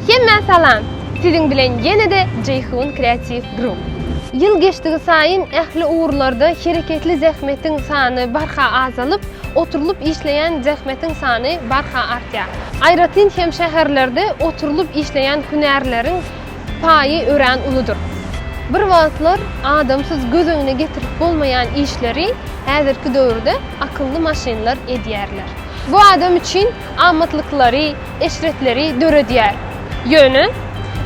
Hemmä salam! Siziň bilen ýene-de Jeýhun Kreatiw Grup. Ýyl geçdigi saýyn ähli ugurlarda hereketli zähmetiň sany barha azalyp, oturylyp işleýän zähmetiň sany barha artýar. Aýratyn hem şäherlerde oturylyp işleýän hünärleriň Paýy örän uludyr. Bir wagtlar adamsyz göz öňüne getirip bolmaýan işleri häzirki döwürde akylly maşynlar edýärler. Bu adam üçin amatlyklary, eşretleri döredýär. Ýöne,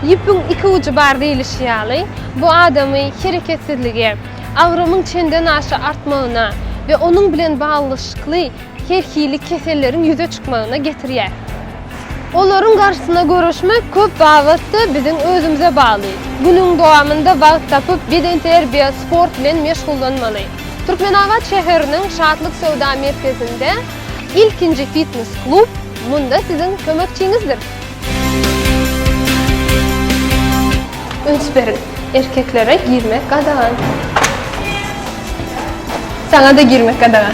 ýüpüň iki ujy bar diýlişi ýaly, bu adamy hereketsizlige, agramyň çendenaşa artmagyna we onuň bilen baglanyşykly her hili keselleriň ýüze çykmagyna getirýär. Olaryň garşysyna göreşmek köp babatda biziň özümize bagly. Günüň dowamynda wagt tapyp, bedenterbiýe, sport bilen meşgullanmaly. Türkmenabat şäheriniň Şatlyk söwda merkezinde ilkinji fitnes-klub munda siziň kömekçiňizdir. Üns beriň, erkeklere girmek gadagan. Saňa-da girmek gadagan.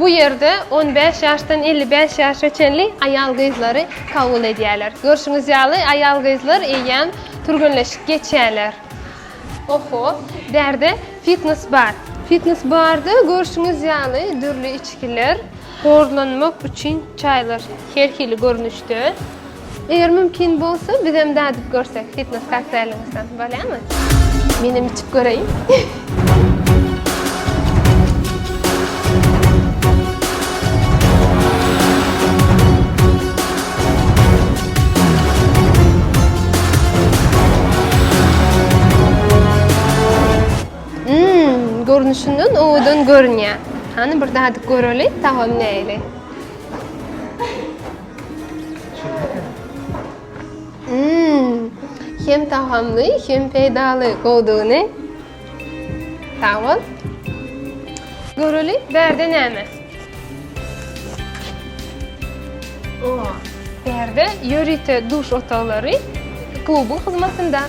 Bu ýerde on bäş ýaşdan elli bäş ýaşa çenli aýal-gyzlary kabul edýärler. Görşüňiz ýaly, aýal-gyzlar eýýäm türgenleşik geçýärler. Oho, bärde fitnes bar. Fitnes barda görşüňiz ýaly dürli içgiler. Horlanmak üçin çaýlar her hili görnüşde. Eger mümkin bolsa bizem dadyp görsek fitnes kokteýliňizden bolýamy? Menem içip göreýin. Hmmm görnüşinden owadan görünýär. Hany bir dadyp göreli tagamy näli. Mmm hem tagamly hem peýdaly gowdugyny. Sag bol. Göreli bärde näme? Bärde ýörite duş otaglary klubuň hyzmatynda.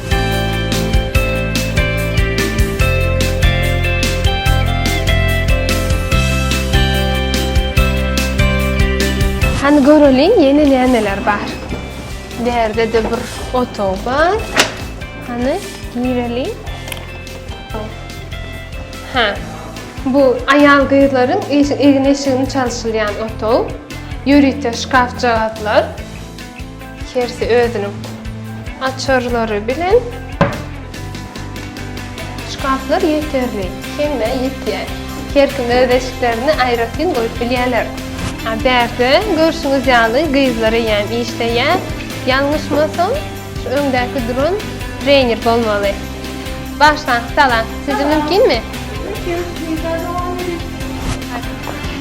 Hany göreliň ýene nämeler bar. Bärde-de bir otag bar. Hany gireliň. Ha. Bu aýal-gyzlaryň egin-eşigini çalşylýan otag. Ýörite şkafjagazlar. Hersi özüniň açarlary bilen. Şkaflar ýeterli. Hemmä ýetýär. Her kim öz eşiklerini aýratyn goýup bilýärler. Bärde görşüňiz ýaly gyzlar eýýäm işleýär. Ýalňyşmasam. Şu öňdäki duran trener bolmaly. Başlaň, salam. Sizde mümkinmi?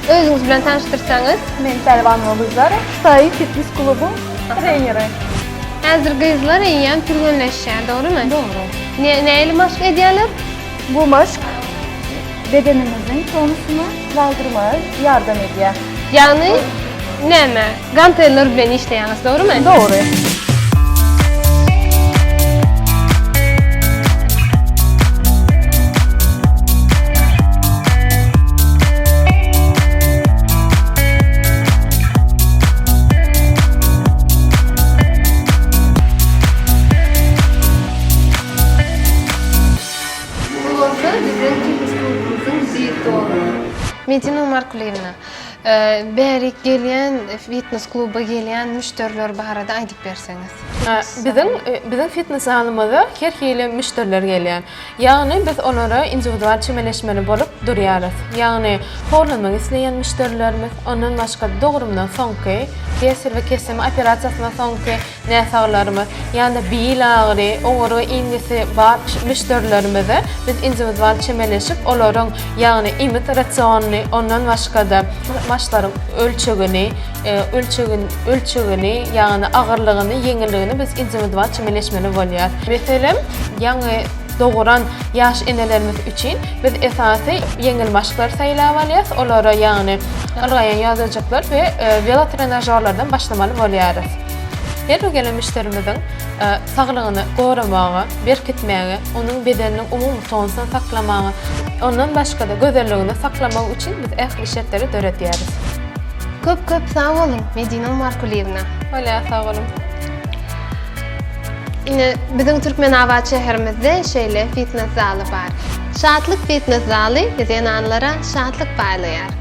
Özüňiz bilen tanyşdyrsaňyz. Men Pälwanova Gülzar, Saýy fitnes klubuň treneri. Häzir gyzlar eýýäm türgenleşýär, dogrymy? Dogry. Ne, nähili maşk edýärler? Bu maşk bedenimiziň tonusyny galdyrmaga ýardam edýär. Ýagny näme? Ganteller bilen işleýäňiz, dogrymy? Dogry. Medina Markulyýewna, Bärik gelýän fitnes kluba gelýän müşderiler barada aýdyp berseňiz. Biziň biziň fitnes zalymyza her hili müşderiler gelýär. Ýagny biz olara indiwidual çemeleşmeli bolup durýarys. Ýagny horlanmak isleýän müşderilerimiz, ondan başga dogrumdan soňky, kesier we keseme operasiýasyndan soňky, näsaglarymyz ýa-da bil agyry, oňurga iňňesi bar müşderilerimize biz indiwidual çemeleşip, olaryň, ýagny iýmit rasionyny, ondan başga-da maslaryň ölçegini, ölçegini, ölçegini, ýagny agyrlygyny, ýeňilligini biz indiwidual çemeleşmeli bolýar. Meselem, ýaňy doguran ýaş enelerimiz üçin biz esasy ýeňil maşklary saýlap alýarys, olara, ýagny ylgaýan ýodajyklar we welotrenažorlardan başlamaly bolýarys. Her bir gelen müşderimiziň saglygyny goramaga, berkitmäge, onuň bedeniniň umumy tonusyny saklamaga, ondan başga-da gözelligini saklamagy üçin biz ähli şertleri döredýäris. Köp köp sag boluň, Medina Markulyýewna! Bolýa, sag boluň! Ine, biziň Türkmenabat şäherimizde şeýle fitnes zaly bar. Şatlyk fitnes zaly zenanlara şatlyk paýlaýar.